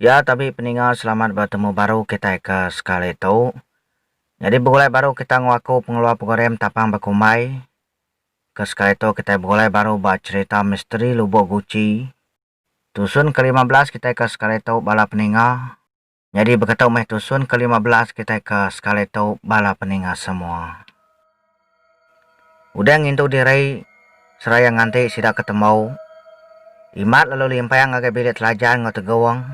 Ya tabi peninga selamat betemu baru kitai ke sekali tu. Nyadi begulai baru kita enggau aku pengeluar program Tapang Bekumbai. Ke sekali tu kitai begulai baru ba cherita misteri Lubok Guci. Tusun ke lima belas kitai ke sekali tu bala peninga. Nyadi beketu meh tusun ke lima belas kitai ke sekali tu bala peninga semua. Udah ngintu diri seraya nganti sida ke temu, Imat lalu limpang ngagai bilik Telajan enggau Tegong.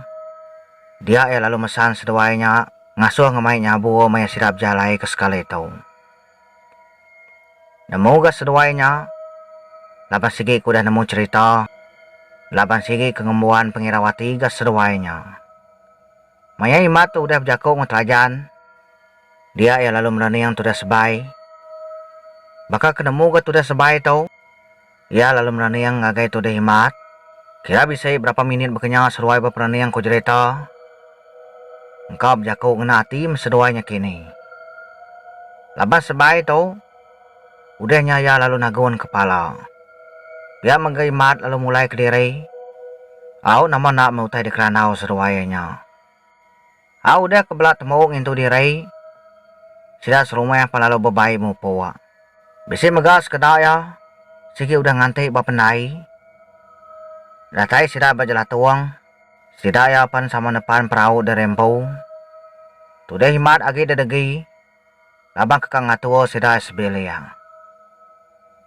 Dia iya lalu mesan seduai nya ngasuh enggau mai nyabu maya sida bejalai ke sekali tu. Nemu ga seduai nya, laban sigi ke udah nemu cherita, laban sigi ke ngembuan pengirau ati ga seduai nya. Maya Imat tu udah bejako enggau Trajan, dia iya lalu merening tudah sebai. Baka ke nemu ga tudah sebai tu, iya lalu merening ngagai tudah Imat, kira bisi berapa minit baka nya seruai beperening ku jerita. Engka bejako ngena ati meseduai nya kini. Labas sebai tu. Udah nya iya lalu nagun kepala. Pia mega Imat lalu mulai kediri. Au nama enda meh utai dikerandau seduai iya nya. Au udah ke bela temu ngintu diri, sida serumah pan lalu bebai mupuk. Bisi mega sekeda iya sigi udah nganti ba pendai. Datai sida ba jelatung, sida iya pan sama nepan perau deri empu. Tudih Imat agi dedegi. laban ke ka ngatur sida sebiling.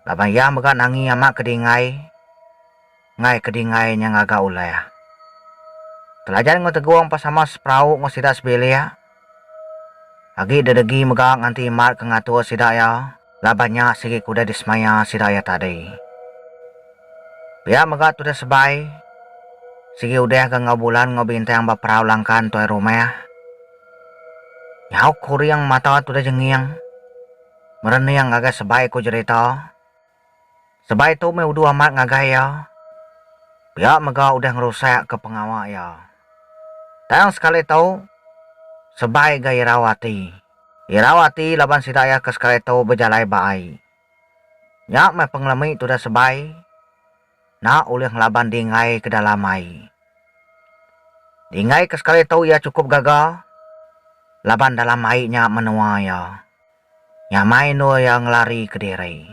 Laban iya mega nangi amat ke dingai enggai ke dingai nya ngaga ulah. Telajan enggau Tegong pa sama seperau enggau sida sebilik. Agi dedegi mega nganti imat ke ngatur sida iya. Laban nya sigi ku udah disemaya sida iya tadi. Pia mega tudah sebai, sigi udah ga enggau bulan enggau bintang ba perau langkan entuai rumah. Nyau kuring mata tudah jenging, merening ngagai sebai ku jerita. Sebai tu meh uduh amat ngagai iya. Pia mega udah ngerusakka pengawa iya. Tang sekali tu, Sebai ga irau ati. Irau ati laban sida iya ke sekali tu bejalai ba ai. Nya meh pengelemi tudah Sebai enda ulih ngelaban dinggai ke dalam ai. Dinggai ke sekali tu iya chukup gaga laban dalam ai nya menua iya. Nyamai endur iya ngelari ke diri.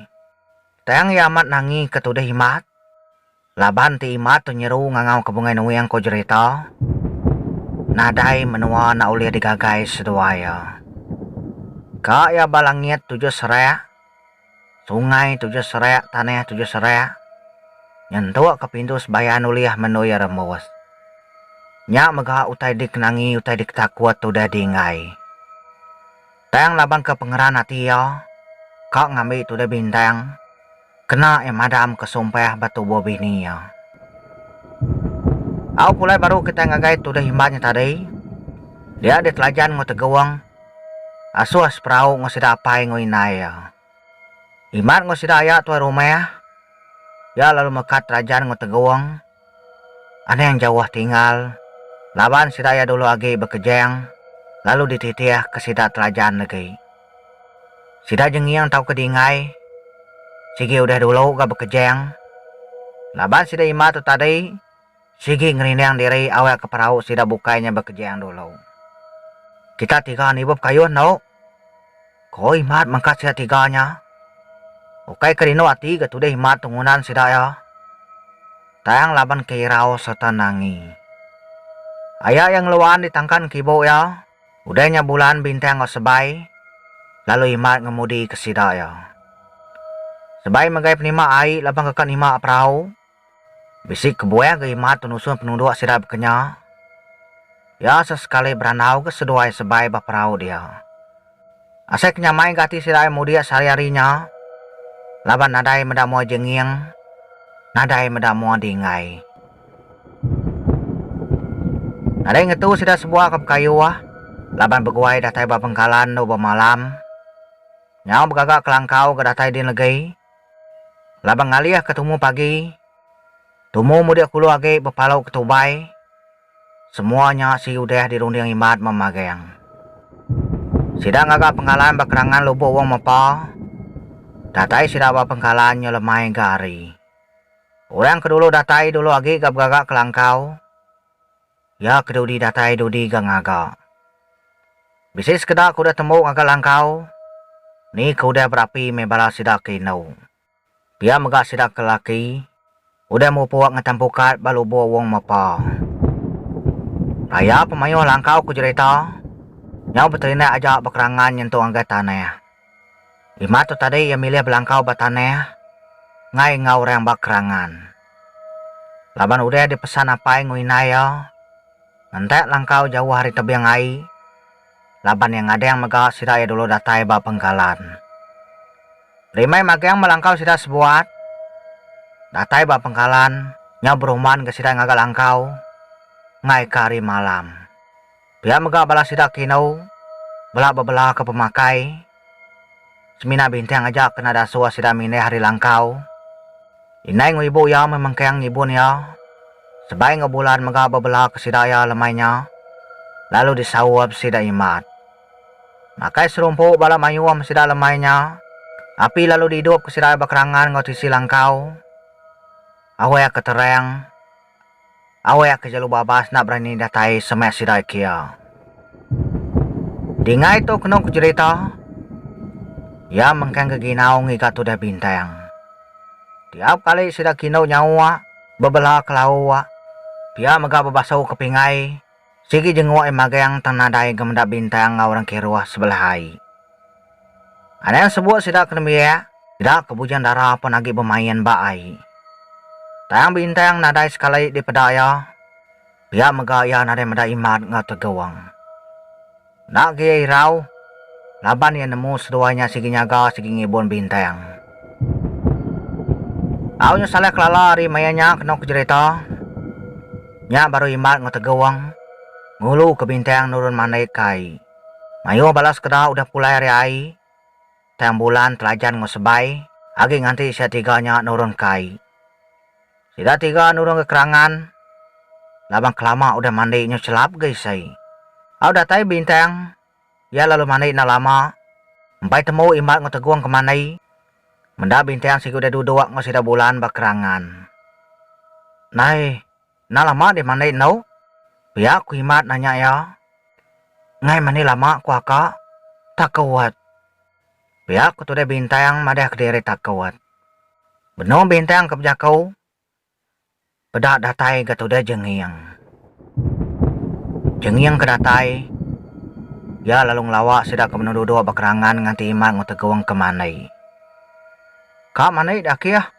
Tang iya amat nangi ke tuduh Imat. Laban ti Imat tu nyeru ngangau ke Bungai Nuing ko jerita nadai menua enda ulih digagai seduai iya. Ka iya ba langit tujuh serak, sungai tujuh serak tanah tujuh serak nyentuk ke pintu sebayan ulih mendu iya rembus. Nya mega utai dikenangi utai diketakut tudah di enggai. Tang laban ke pengeran ati iya, ka ngambi tudah bintang, kena iya madam ke sumpah ba tubuh bini iya. Au pulai baru kitai ngagai tudah imban nya tadi, dia ditelajan enggau Tegong, Asuh seperau enggau sida apai enggau indai iya. Imat enggau sida aya tuai rumah, iya lalu meka telajan enggau Tegong, Anang jauh tinggal, laban sida iya dulu agi bekejang lalu dititih ke sida Telajan legi. Sida jenging tauka dingai sigi udah dulu ga bekejang laban sida ima tu tadi sigi ngerinding diri awakka perau sida bukai nya bekejang dulu. Kita tiga nibup kayuh endo. Ko Imat mangkat sida tiga nya. Ukai ke rindu ati ga tudah Imat tu ngundan sida iya. Tang laban ke irau sereta nangi. Aya iya ngeluan di tangkan kibu iya, udah nya Bulan bintang enggau Sebai, lalu Imat ngemudi ke sida iya. Sebai megai penima ai laban ke ka nima perau. Bisi kebuah ga imat penusun penuduk sida bekenya. Iya sesekali berandau ga seduai sebai ba perau dia. Asai ke nyamai ga ati sida ai mudik sehari-hari nya laban nadai meda mua jenging, nadai meda mua dinggai. Nadai ngetu sida sebuah ke bekayuh laban beguai datai ba bengkalan endur ba malam. Nyau begaga kelangkau ga datai din legi. Laban ngalih ke tumu pagi, tumu mudik kulu agi bepalau ke tubai, semua nya si udah dirunding Imat meh magang. Sida ngaga pengkalan ba kerangan lubuk Wong Mepa, datai sida ba pengkalan nya lemai ga hari. Orang ke dulu datai dulu agi ga begaga ke langkau, Iya ke dudi datai dudi ga ngaga. Bisi sekeda ke udah tembu ngaga langkau, ni ke udah berapi meh bala sida ke indu. Pia mega sida ke laki udah mupuk ngetan pukat ba lubuk Wong Mepa. Raya pemayuh langkau ke jerita nyau beterindak aja bekerangan nyentuk ngagai tanah. Lima tu tadi iya milih belangkau ba tanah enggai enggau orang ba kerangan. Laban udah dipesan apai enggau indai iya ngentak langkau jauh ari tebing ai laban iya ngadang mega sida iya dulu datai ba Bengkalan. Rimai magang belangkau sida sebuat datai ba Bengkalan nyau berumban enggau sida ngaga langkau enggaika hari malam. Pia mega bala sida ke indu bela bebelaka pemakai semina bintang aja kena dasur sida mindih ari langkau. Indai enggau ibu iya meh mengkang ngibun iya sebai enggau bulan mega bebelaka sida iya lemai nya lalu disaup sida Imat. Makai serumpu bala mayuh meh sida lemai nya api lalu diidupka sida iya bekerangan enggau tisi langkau. Awakka terang. Awai aka jalu babas enda berani datai semak sida kia. Dingai tu kenu ku jerita, iya mengkang geginau ngiga tudah bintang. Tiap kali sida kindu nyawa bebela ke lawa, pia mega bebasau ke pingai. Sigi jenguk ai magang tang nadai ga meda bintang enggau orang kiruh sebelah ai. Anang sebuk sida ke nembiak, sida ke bujang dara pun agi bemain ba ai. Tang bintang nadai sekali dipeda iya, pia mega iya nadai meda imat enggau tegong. Enda ga iya irau, laban iya nemu seduai nya sigi nyaga sigi ngibun bintang. Au nya salai kelala ari maya nya kenu ke jerita. Nya baru Imat enggau Tegong ngulu ke bintang nurun mandai ke ai. Mayuh bala sekeda udah pulai ari ai, tang bulan telajan enggau sebai agi nganti sia tiga nya nurunka ai. Sida tiga nurunka kerangan laban kelama udah mandi nyu chelap ga isai. Au datai Bintang, iya lalu mandi enda lama, empai temu Imat enggau Tegong ke mandi. Meda Bintang sigi udah duduk enggau sida Bulan ba kerangan. Nai. Enda lama deh mandi endu. Pia ku Imat nanya iya. Ngai mandi lama ku aka. Takut. Pia ku Tudai Bintang madah kediri takut. Benung Bintang ke bejaku. Peda datai ga Tudai Jenging. Jenging ke datai, iya lalu ngelawa sida ke benung duduk ba kerangan nganti Imat enggau Tegong ke mandi. Ka mandi dah kih.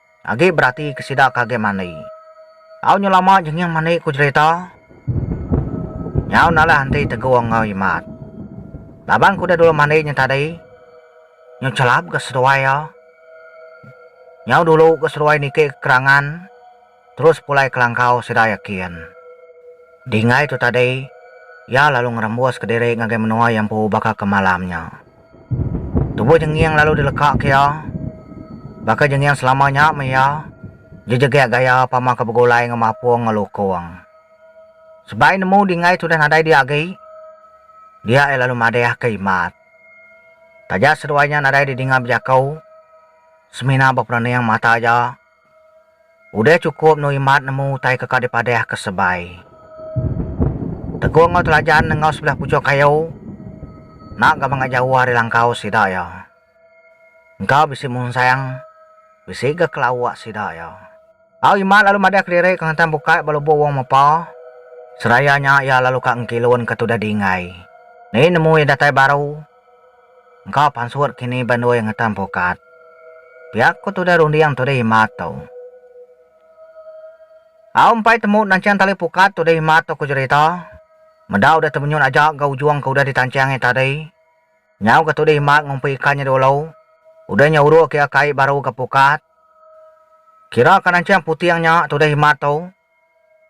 Agi berati ke sida ke agi mandi. Au nyu lama jenging mandi ku jerita. Nyau nalah enti Tegung enggau Imat. Laban ku udah dulu mandi nya tadi. Nyu chelap ga seduai iya. Nyau dulu ga seduai niki ke kerangan terus pulai kelangkau sida yakin. Dinggai tu tadi iya lalu ngerembus kediri ngagai menua iya empu baka ke malam nya. Tubuh Jenging lalu dileka ke iya. Baka Jenging selama nya meh iya jejegek gaya pama ke begulai enggau mapung enggau lukung. Sebai nemu Dingai tudah nadai dia agi, dia iya lalu madeh ke Imat. Taja seduai nya nadai didinga bejaku, semina beperening mata aja. Udah chukup endur imat nemu utai ke ka dipadah ke sebai. Teguh enggau Telajan enggau sebelah puchok kayu enda gaban ga jauh ari langkau sida iya. Engka bisi munsang, bisi ga kela uak sida iya. Au Imat lalu madah kelirik ngelantang bukai ba lubuk Wong Mepa. Seraya nya iya lalu ka ngkilun ke tudah di Enggai. Ni nemu iya datai baru. Engka pansut kini ba ndoi ngetan pukat. Pia ku tudah runding tudah Imat tu. Au empai temu nancang tali pukat tudah Imat tu ku jerita. Meda udah temenyut aja ga ujung ke udah ditancang iya tadi. Nyau ga tudah Imat ngumpi ikan nya dulu. Udah nya uruk iya kai baru ga pukat. Kira ka nancang puting nya tudah Imat tu.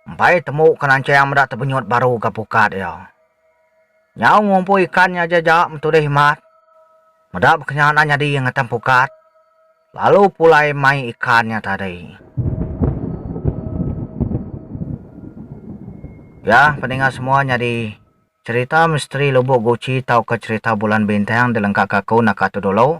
Empai temu ke nancang meda tebenyut baru ga pukat iya. Nyau ngumpu ikan nya aja ja metudih imat. Meda bekenyanan nyadi ngetan pukat lalu pulai mai ikan nya tadi. Ya pendengar semua nyadi cherita misteri lubok guchi tauka cherita bulan bintang dilengkaka aku naka tu dulu.